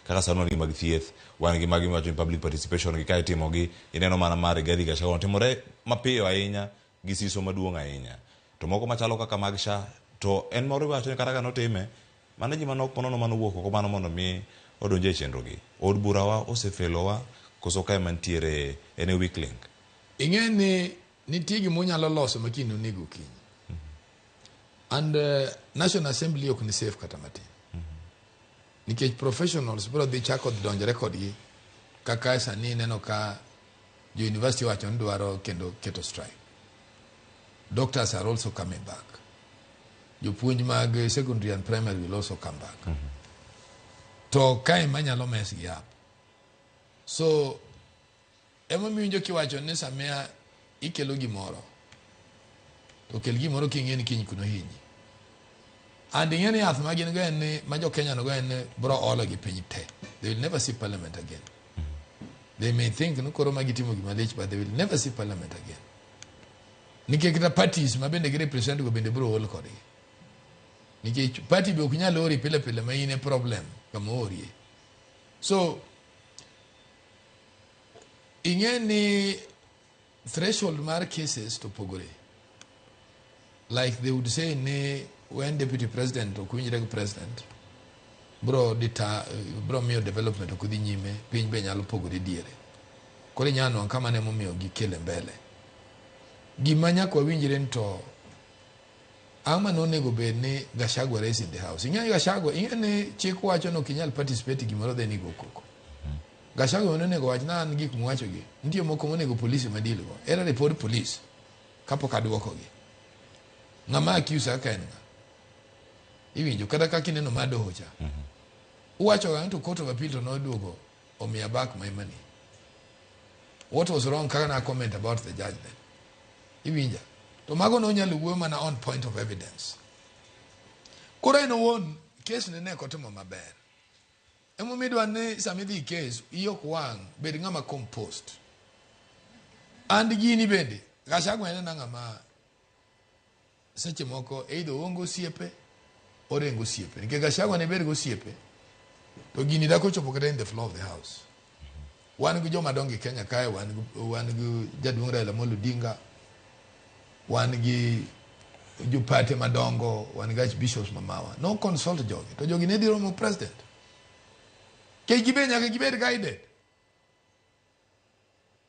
Kaka sani wan gi mag thieth, wan gi magi miwacho ni public participation gi ka itimogi, ineno mana ma Rigathi Gachagua notimore mapiyo ahinya gi siso maduong' ahinya. To moko machalo kaka mag SHA, to en moro iwacho ni kata ka notime, mano ji manok manono mane owuok oko mano mondo mi odonj e chenro gi. Od bura wa ose fail wa koso ka ema nitiere en e weak link? Ing'e ni nitie gima unyalo loso ma kiny noneg okinyi. And National Assembly ok ni safe kata matin. Nikech professionals biro dhi chako donjore kodgi kaka sani ineno ka jo university wacho ni dwaro kendo keto strike. Doctors are also coming back. Jopuonj mag secondary and primary will also come back. Mm -hmm. To kae manyalo mesgi up. So Emomiyo iwinjo kiwacho ni samia ikelo gimoro to kel gimoro king'e ni kiny kuno hinyi and ing'e ni yath ma gin go en ni ma jo Kenya go en ni bro olo gi piny te they will never see parliament again they may think ni koro ma gitimo gima lich but they will never see parliament again nikech kata parties ma bende gi represent go bende bro ol kodgi nikech party be ok nyal ori pile pile ma in e problem kama orie so Ing'e ni threshold mar cases to pogore. Like they would say ni when deputy president ok winjre gi president bro dita bro miyo development ok dhi nyime piny be nyalo pogore diere. Koro inyalo nwang' kama ne momiyo gikele mbele. Gima nyaka wawinjre ni to Ang'o ma nonego bed ni Gachagua raise in the house? Ing'eyo Gachagua, ing'eyo ni chik wacho ni ok inyal participate gimoro then igo koko. Gachagua ne onego wach na an gik muwacho gi. Nitie moko monego polisi ma deal go. Era report police kapok aduoko gi. Ng'ama accuse aka en ng'a? Iwinjo kata kaka ineno ma doho cha. Uwacho ga to court of appeal to noduogo omiya back my money what was wrong kaka na comment about the judge then iwinja to mago ne onyalo wuoyo mana on point of evidence koro en owuon kes ne ne kotimo maber emomiyo idwa ni sama idhi kes iyi ok wang' bed ng'ama compost and gini bende gachagwa en na ng'ama seche moko either oonge osiepe orengo osiepe nikech gashagwa ne ber gi osiepe to gini dako chopo kata in the floor of the house wan gi joma dongo e kenya kae wan gi- wan gi jaduong' raila molo odinga wan gi jopate madongo wan gi archbishops mamawa no consult jogi to jogi ne dhi romo president kech gibe nyaka gibed guided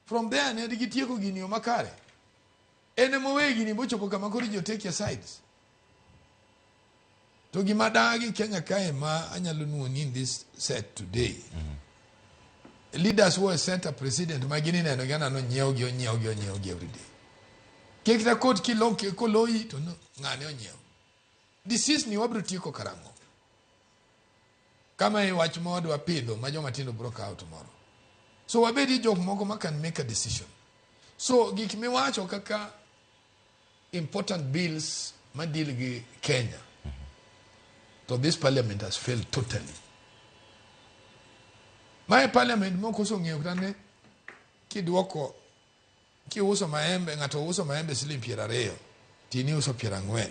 From there ne gitieko gini yo makare. En ema oweyo gini bochopo kama koro ji otake sides. To gima dagi Kenya kae ma anyalo nuoni in this set today. Mm -hmm. leaders who set a president ma gini neno gana no nyiew gi onyiew gi onyiew gi every day ke kita kot ki lo ke ko loyi to ngane onyiew this is ni wabro tieko karango Kama e wach ma wadwa pidho ma joma tindo bro kawo tomorrow. So wabed gi jok moko ma can make a decision. So gik miwacho kaka important bills ma deal gi Kenya. Mm -hmm. So this parliament has failed totally. My parliament moko osong'eyo kata ne kidwoko kiuso maembe ng'ato uso maembe siling' piero ariyo tini uso piero ang'wen